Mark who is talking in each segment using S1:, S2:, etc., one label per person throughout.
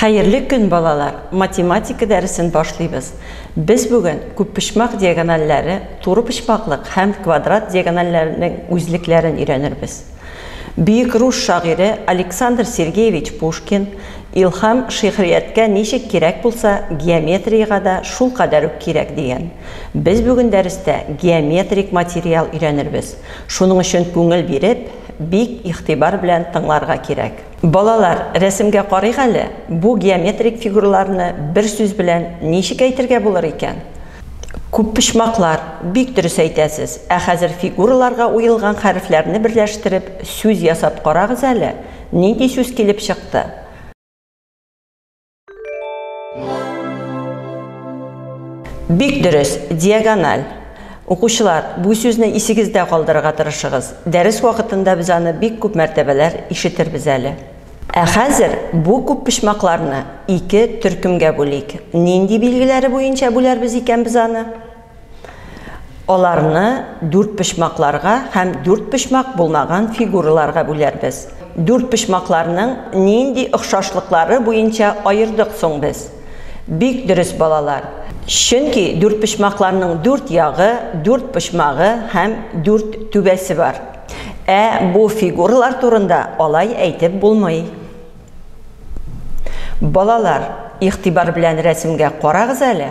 S1: Хәерле көн, балалар! Математика дәресен башлыйбыз. Без бүген күппочмак диагоналләре, турыпочмаклык һәм квадрат диагоналләренең үзлекләрен өйрәнербез. Бөек рус шагыйре Александр Сергеевич Пушкин, Илһам шигърияткә ничек кирәк булса, геометриягә дә шулкадәр үк кирәк, дигән. Без бүген дәрестә геометрик материал өйрәнербез. Шуның өчен күңел биреп, бик игътибар белән тыңларга кирәк. Балалар, рәсемгә карыйк әле, бу геометрик фигураларны бер сүз белән ничек әйтергә булыр икән? Күппочмаклар, бик дөрес әйтәсез. Ә хәзер фигураларга уелган хәрефләрне берләштереп, сүз ясап карагыз әле, нинди сүз килеп чыкты? Бик дөрес, диагональ. Укучылар, бу сүзне исегездә калдырырга тырышыгыз. Дәрес вакытында без аны бик күп мәртәбәләр ишетербез әле. Ә хәзер бу күп почмакларны ике төркемгә бүлик. Нинди билгеләре буенча бүләрбез икән без аны? Аларны дүрт почмакларга һәм дүрт почмак булмаган фигураларга бүләрбез. Дүрт почмакларның нинди охшашлыклары буенча аердык соң без? Бик дөрес, балалар. Чөнки дүрт почмакларның дүрт ягы, дүрт почмагы һәм дүрт түбәсе бар. Ә бу фигуралар турында алай әйтеп булмый. Балалар, игътибар белән рәсемгә карагыз әле.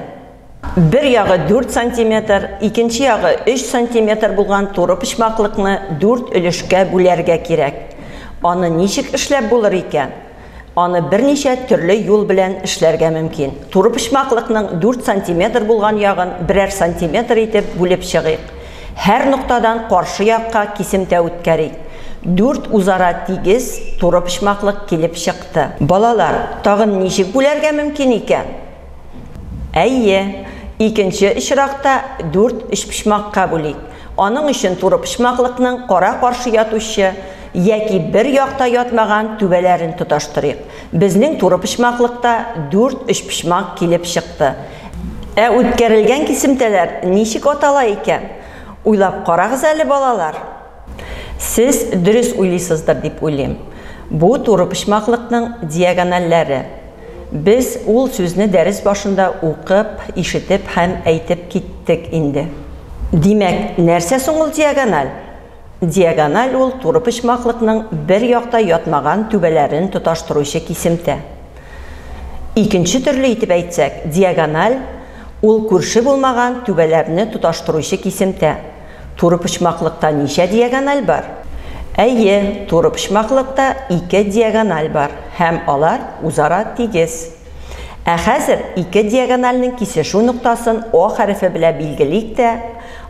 S1: Бер ягы дүрт сантиметр, икенче ягы өч сантиметр булган туры почмаклыкны дүрт өлешкә бүләргә кирәк. Аны ничек эшләп булыр икән? Аны берничә төрле юл белән эшләргә мөмкин. Туры почмаклыкның дүрт сантиметр булган ягын берәр сантиметр итеп бүлеп чыгыйк. Һәр ноктадан каршы якка кисемтә үткәрик. Дүрт үзара тигез туры почмаклык килеп чыкты. Балалар, тагын ничек бүләргә мөмкин икән? Әйе, икенче очракта дүрт өчпочмакка бүлик. Аның өчен турыпочмаклыкның кара-каршы ятучы яки бер якта ятмаган түбәләрен тоташтырыйк. Безнең турыпочмаклыкта дүрт өчпочмак килеп чыкты. Ә үткәрелгән кисемтәләр ничек атала икән? Уйлап карагыз әле, балалар. Сез дөрес уйлыйсыздыр дип уйлыйм. Бу турыпочмаклыкның диагональләре. Без ул сүзне дәрес башында укып, ишетеп һәм әйтеп киттек инде. Димәк, нәрсә соң ул диагональ? Диагональ ул турыпочмаклыкның бер якта ятмаган түбәләрен тоташтыручы кисемтә. Икенче төрле итеп әйтсәк, диагональ, ул күрше булмаган түбәләрне тоташтыручы кисемтә. Турыпочмаклыкта ничә диагональ бар? Әйе, турыпочмаклыкта ике диагональ бар һәм алар үзара тигез. Ә хәзер ике диагональнең кисешү ноктасын О хәрефе белә билгелик тә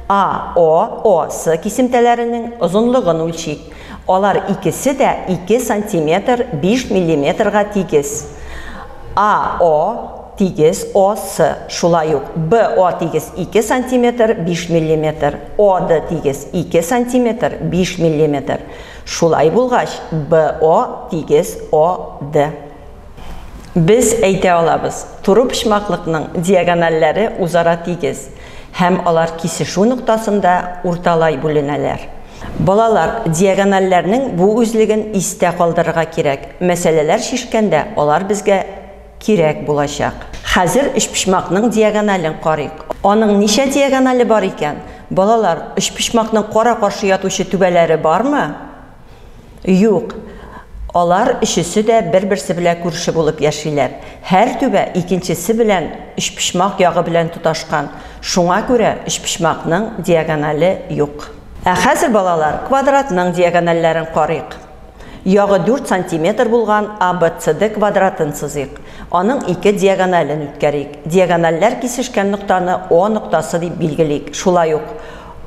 S1: АО, ОС кисемтәләренең озынлыгын үлчик. Алар икесе дә 2 сантиметр 5 миллиметрга тигез. АО. тигез, О, С, шулай ук Б, О, тигез 2 сантиметр, 5 миллиметр, О, Д, тигез 2 сантиметр, 5 миллиметр, шулай булгач, Б, О, тигез, О, Д. Без әйтә алабыз, турыпочмаклыкның диагоналләре узара тигез һәм алар кисешү ноктасында урталай бүленәләр. Балалар, диагоналләрнең бу үзлеген истә калдырырга кирәк, мәсьәләләр чишкәндә алар безгә кирәк булачак. Хәзер өчпочмакның диагонален карыйк. Аның ничә диагонале бар икән? Балалар, өчпочмакның кара-каршы ятучы түбәләре бармы? Юк. Алар өчесе дә бер-берсе белән күрше булып яшиләр. Һәр түбә икенчесе белән өчпочмак ягы белән тоташкан. Шуңа күрә өчпочмакның диагонале юк. Ә хәзер, балалар, квадратның диагоналләрен карыйк. Ягы дүрт сантиметр булган ABCD квадратын сызыйк. Аның ике диагонален үткәрик. Диагоналләр кисешкән ноктаны О ноктасы дип билгелик. Шулай ук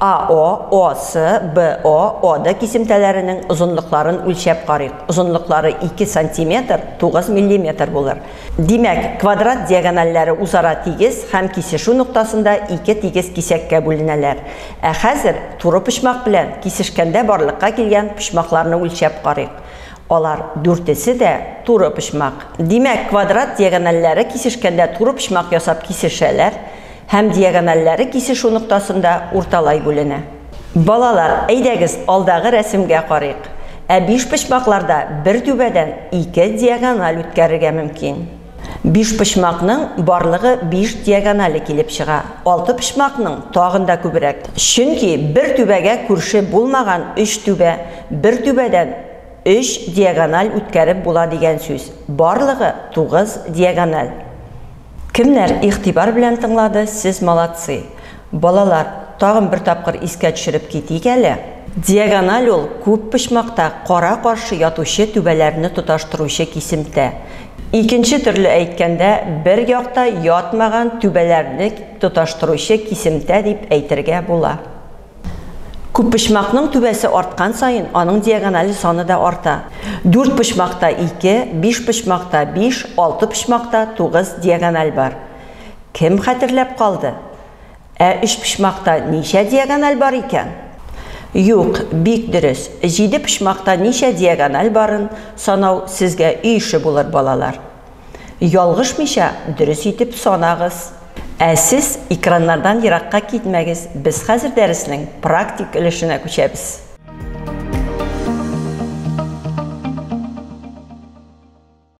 S1: AO, OC, BO, OD кисемтәләренең озынлыкларын үлчәп карыйк. Озынлыклары 2 сантиметр, 9 миллиметр булыр. Димәк, квадрат диагоналләре үзара тигез һәм кисешү ноктасында ике тигез кисәккә бүленәләр. Ә хәзер туры почмак белән кисешкәндә барлыкка килгән почмакларны үлчәп карыйк. Алар дүртесе дә туры почмак. Димәк, квадрат диагональләре кисешкәндә туры почмак ясап кисешәләр һәм диагональләре кисешү ноктасында урталай бүленә. Балалар, әйдәгез, алдагы рәсемгә карыйк. Ә бишпочмакларда бер түбәдән ике диагональ үткәрергә мөмкин. Бишпочмакның барлыгы биш диагонале килеп чыга, алтыпочмакның, тагын да күбрәк. Чөнки бер түбәгә күрше булмаган өч түбә бер түбәдән өч диагональ үткәреп була дигән сүз. Барлыгы тугыз диагональ. Кемнәр игътибар белән тыңлады, сез молодцы! Балалар, тагын бер тапкыр искә төшереп китик әле. Диагональ ул күп почмакта кара-каршы ятучы түбәләрне тоташтыручы кисемтә. Икенче төрле әйткәндә, бер якта ятмаган түбәләрне тоташтыручы кисемтә дип әйтергә була. Күппочмакның түбәсе арткан саен, аның диагональ саны да арта. Дүрт почмакта ике, биш почмакта биш, алты почмакта тугыз диагональ бар. Кем хәтерләп калды? Ә өчпочмакта ничә диагональ бар икән? Юк, бик дөрес, җиде почмакта ничә диагональ барын санау сезгә өй эше булыр, балалар. Ялгышмыйча, дөрес итеп санагыз. Ә сез экраннардан еракка китмәгез, без хәзер дәреснең практик өлешенә күчәбез.